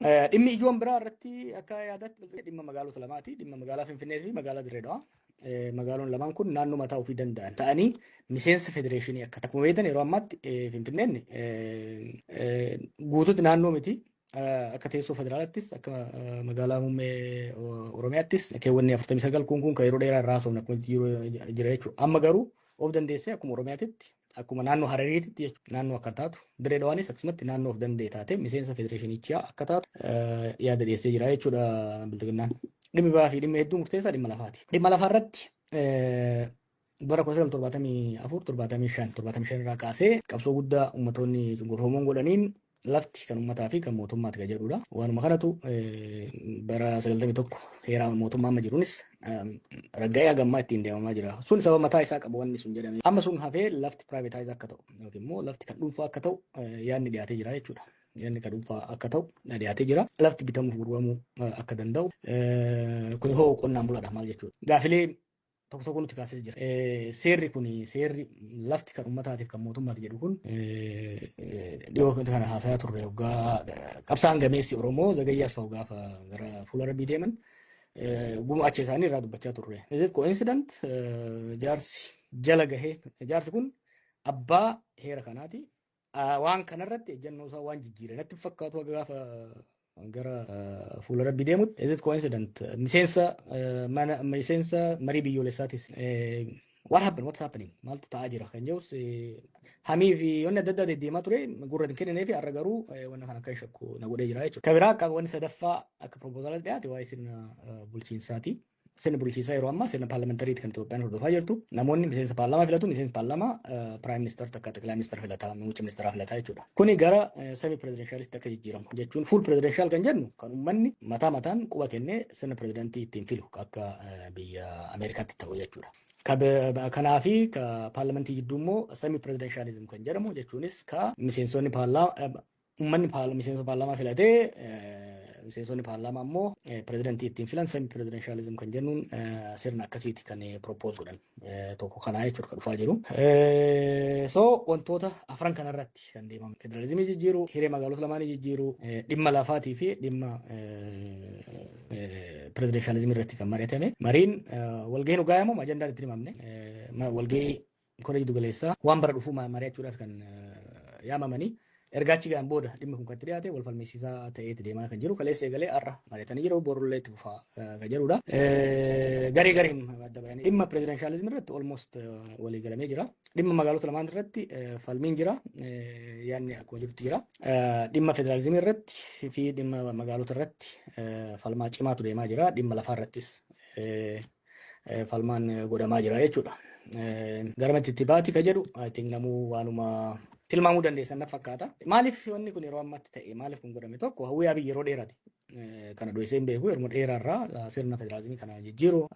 Eh, Dhimmi ijoon biraa irratti akka yaadaatti bilchina dhimma magaalota lamaati. Dhimma magaalaa Finfinnee fi magaalaa Dirree Dhawaa. Eh, Magaaloon lamaan kun naannoo mataa ofii danda'an ta'anii miseensa federeeshinii akka ta'an. Akkuma beektan yeroo ammaatti eh, Finfinneen eh, eh, guutuutti naannoo miti. Eh, Akka teessoo federaalaattis akka eh, magaalaa muummee o- Oromiyaattis keewwanni 49 kun kun kan yeroo dheeraa irraa haasofna akkuma jiru jira jechuudha. Amma garuu Of dandeessee akkuma Oromiyaatitti akkuma naannoo Harariititti jechuudha naannoo akka taatu Dirree Dhawaanis akkasumatti naannoo of danda'e taatee miseensa federeeshinichaa akka taatu eh, yaada dhiyeessee jira jechuudha bilxiginnaan. Dhimmi biraa fi dhimmi hedduun murteessaa dhimma lafaati. Dhimma lafaa irratti eh, bara 1974 75 75 irraa kaasee qabsoo guddaa ummatoonni cunqurfamoon godhaniin Lafti kan ummataa fi kan mootummaati kan jedhudha. Waanuma kanatu bara 91 heeraa mootummaa amma jiruunis ragga'ee hagammaa ittiin deemamaa jira. Sun sababa mataa isaa qabu wanni sun jedhame. Amma sun hafee lafti privatize akka ta'u yookiin immoo lafti kan dhuunfaa akka ta'u yaadni dhiyaatee jira jechuudha. Yaadni kan dhuunfaa akka ta'u dhiyaatee jira. Lafti bitamuuf gurguramuu akka danda'u kun hoo qonnaan bulaadha maal jechuudha. Gaafilee tokko tokko nutti kaasee jira. Seerri kun seerri lafti kan uummataatiif kan mootummaati jedhu kun dhiyoo kana haasayaa turre hoggaa qabsaan gameessi Oromoo zagayyaa asfa'u gaafa gara fuula rabbii deeman gumaacha isaanii irraa dubbachaa turre. Is coincident jaarsi jala gahee jaarsi kun abbaa heera kanaati Waan kanarratti ejjannoo isaa waan jijjiire natti hin fakkaatu haga gaafa gara fuula rabbi deemutti. Is it coincident? Miseensa eh, mana miseensa marii biyyoolessaatis. Eh, What happened? What's happening? Maaltu ta'aa jira? Kan jedhus eh, hamii fi wanni adda addaa deddeemaa ture gurra hin kenninee fi har'a garuu eh, wanna kana kan shakku na godhee jira jechuudha. Kan biraa akka wanni sadaffaa akka proposaalatti dhiyaate waa'ee sirna eh, bulchiinsaati. Sirna bulchiinsaa yeroo ammaa sirna paarlamentariiti kan Itoophiyaan hordofaa jirtu. Namoonni miseensa paarlaamaa filatu, miseensi paarlaamaa piraayim ministeer takka xiqilaa ministeera filataa, muummicha ministeeraa filataa jechuudha. Kuni gara semi pirezidenshaalist akka jijjiiramu jechuun fuul pirezidenshal kan jennu kan uummanni mataa mataan quba kennee sirna pirezidantii ittiin filu akka biyya Ameerikaatti ta'u jechuudha. Kanaafi paarlamentii jidduu immoo semi pirezidenshalizim kan jedhamu jechuunis ka miseensonni paarlaamaa Uummanni miseensa paarlaamaa filatee miseensonni paarlaamaa immoo pirezidantii ittiin filan semi pirezidanshaalizim kan jennuun sirna akkasiiti kan propose godhan tokko kanaa jechuudha kan dhufaa jiru. So wantoota afran kanarratti kan deemamu federalizimii jijjiiruu, hiree magaalota lamaanii jijjiiruu, dhimma lafaatii fi dhimma pirezidanshaalizimii irratti kan mari'atame. Mariin walgahiin hogaayamu ajandaan itti himamne walgahii Kora jiddu galeessaa waan bara dhufuu mari'achuudhaaf kan yaamamanii erga achi ga'an booda dhimmi kun kan itti dhiyaate wal falmisiisaa ta'eeti deemaa kan jiru kaleessa eegalee har'a mari'atanii jiru borullee itti fufaa kan jedhudha. Garee gareen adda bahanii dhimma pirezidanshaalizimii irratti olmost walii galamee jira. Dhimma magaalota lamaan irratti falmiin jira yaadni akkuma jirutti jira. Dhimma federaalizimii irratti fi dhimma magaalota irratti falmaa cimaatu deemaa jira. Dhimma lafaa irrattis falmaan godhamaa jira jechuudha. Garamatti itti baati ka jedhu I think namuu waanuma tilmaamuu dandeessan naf fakkaata. Maaliif wanni kun yeroo ammatti ta'e maaliif kun godhame tokko hawwii abiy yeroo dheerati. Kana dhoyseen beeku yeroo dheeraarraa sirna federaalizimii kana jijjiiru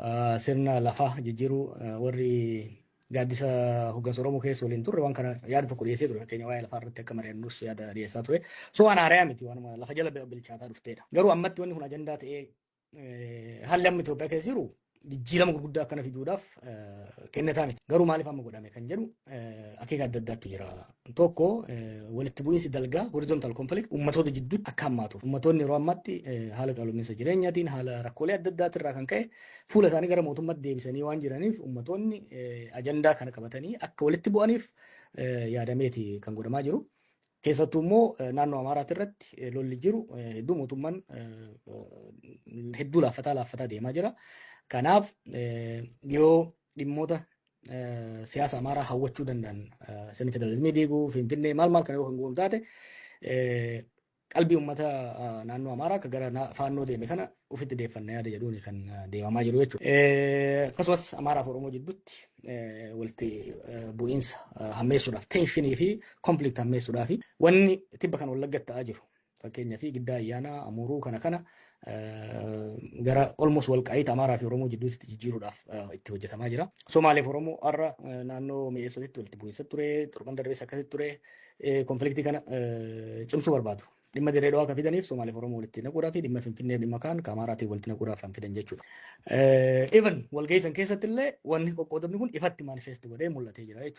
sirna lafaa jijjiiru warri gaaddisa hoggansa Oromoo keessa waliin turre waan kana yaada tokko dhiyeessee ture fakkeenya waa'ee lafaa irratti akka mari'annus yaada dhiyeessaa ture. So waan haarayaa miti waanuma lafa jala bilchaataa dhufteedha. Garuu ammatti wanni kun ajandaa ta'ee Haalli amma Itoophiyaa keessa jiru jijjiirama gurguddaa akkana fiduudhaaf kennataa miti. Garuu maaliif amma godhame kan jedhu akeeka adda addaatu jira. Tokko walitti bu'iinsi dalgaa horizontal conflict uummatoota jidduutti akka hammaatuuf. Uummatoonni yeroo ammaatti haala qaala'insa jireenyaatiin haala rakkoolee adda addaati irraa kan ka'e fuula isaanii gara mootummaatti deebisanii waan jiraniif uummatoonni ajandaa kana qabatanii akka walitti bu'aniif yaadameeti kan godhamaa jiru. Keessattuu immoo naannoo Amaaraati irratti lolli jiru hedduu mootummaan hedduu laaffataa laaffataa deemaa jira. Kanaaf yoo dhimmoota siyaasa Amaaraa hawwachuu danda'an sirni federaalizimii diiguu Finfinnee maal maal kana yoo kan goonu taate qalbii uummata naannoo Amaaraa akka gara faannoo deeme kana ofitti deeffanna yaada jedhuun kan deemamaa jiru jechuudha. Akkasumas Amaaraa fi Oromoo jidduutti walitti bu'iinsa hammeessuudhaaf teenshinii fi konflikt hammeessuudhaa fi wanni tibba kan wallaggatti ta'aa jiru fakkeenyaa fi giddaa ayyaanaa amuuruu kana kana gara olmos walqaa'iita Amaaraa fi Oromoo jidduutti jijjiiruudhaaf itti hojjetamaa jira. Somaaleef Oromoo har'a naannoo mi'eessootitti walitti bu'iinsa ture, torban darbees akkasitti ture konfliktii kana cimsuu barbaadu. Dhimma Dirree Dhawaa kan fidaniif Somaaliif Oromoo walitti naquudhaa fi dhimma Finfinnee dhimma kaan ka Amaaraatiin walitti naquudhaaf kan fidan jechuudha. Even walgahii san keessatti illee wanni qoqqoodamni kun ifatti manifest godhee mul'atee jira jechuudha.